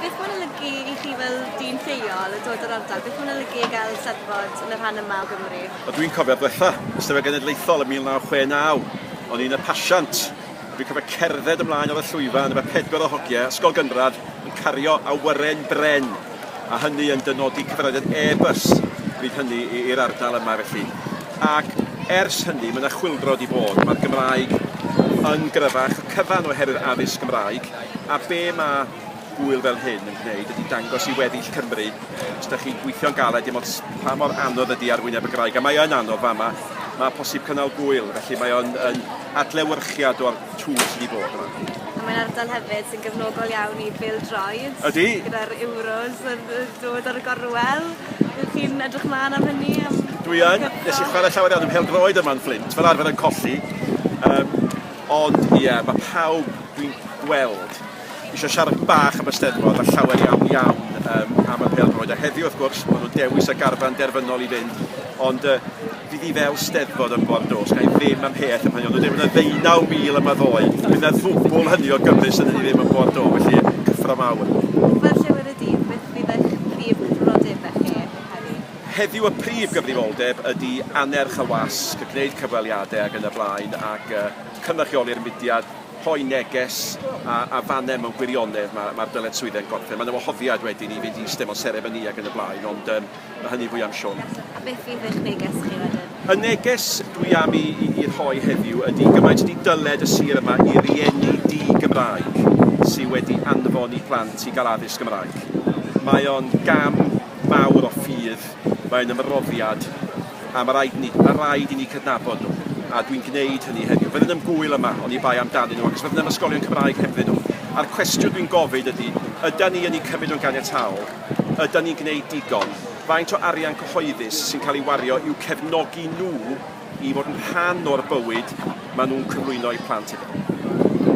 Beth mae'n olygu i chi fel dyn lleol yn dod o'r ardal? Beth mae'n olygu i gael Eisteddfod yn y rhan yma o Gymru? Wel, dwi'n cofio'r dwetha, Eisteddfod Genedlaethol yn 1969. O'n i'n y pasiant. Dwi'n cofio cerdded ymlaen ar y llwyfan efo pedwar o hogiau ysgol gynradd yn cario awyren bren, a hynny yn dynodi cyfarwyddyd e-bws bryd hynny i'r ardal yma felly. Ac ers hynny, mae 'na chwyldro wedi bod. Mae'r Gymraeg yn gryfach y cyfan oherwydd addysg Gymraeg. A be ma' gŵyl fel hyn yn gwneud ydi dangos i weddill Cymru, os dach chi'n gweithio'n galed dim ots pa mor anodd ydi arwyneb y graig, a mae yn anodd fama, ma' posib cynnal gŵyl, felly mae o'n yn adlewyrchiad o'r twf sydd i fod yma. A mae'n ardal hefyd sy'n gefnogol iawn i bêl-droed. Ydi. Gyda'r Euros yn yy dod ar y gorwel. Ydych chi'n edrych mlan am hynny am... Dwi yn. Nes i chware llawer iawn ym mhêl-droed yma yn Fflint, fel arfer yn colli. Yym. Ond ie, mae pawb dwi'n gweld eisiau siarad bach am y Steddfod a llawer iawn, iawn yym am y pêl-droed. A heddiw, wrth gwrs, maen nhw'n dewis y garfan derfynol i fynd, ond yy fydd hi fel Steddfod yn Ford Oaks, ga i ddim am peth am hynny, ond wedyn fydd 'na ddeunaw mil yma ddoe, fydd 'na ddwbl hynny o Gymry sydd hynny ddim yn Ford Oaks, felly cyffro mawr. Fel llewyrdd y dydd, beth fydd eich prif gyfrifoldebau chi heddi? Heddiw y prif gyfrifoldeb ydi annerch y wasg, gwneud cyfweliadau ac yn y blaen ac yy cynrychioli'r mudiad, rhoi neges a a fane mewn gwirionedd ma' ma'r dyletswydde'n gorffen. Ma' 'na wahoddiad wedyn i fynd i iste mewn seremoni ac yn y blaen ond yym ma' hynny fwy am Siôn. A beth fydd eich neges chi wedyn? Y neges dwi am i i i rhoi heddiw ydi gymaint ydi dyled y sir yma i rieni di-Gymraeg sy wedi anfon 'u plant i ga'l addysg Gymraeg. Mae o'n gam mawr o ffydd, mae'n ymroddiad, a ma' raid ni, ma' raid i ni cydnabod nhw, a dwi'n gwneud hynny heddiw. Fydden yn gŵyl yma oni bai amdanyn nhw, achos fydden am ysgolion Cymraeg hebddyn nhw. A'r cwestiwn dwi'n gofyn ydy, ydan ni yn eu cymryd nhw'n ganiataol? Ydan ni'n gwneud digon? Faint o arian cyhoeddus sy'n cael ei wario i'w cefnogi nhw i fod yn rhan o'r bywyd maen nhw'n cyflwyno eu plant iddo?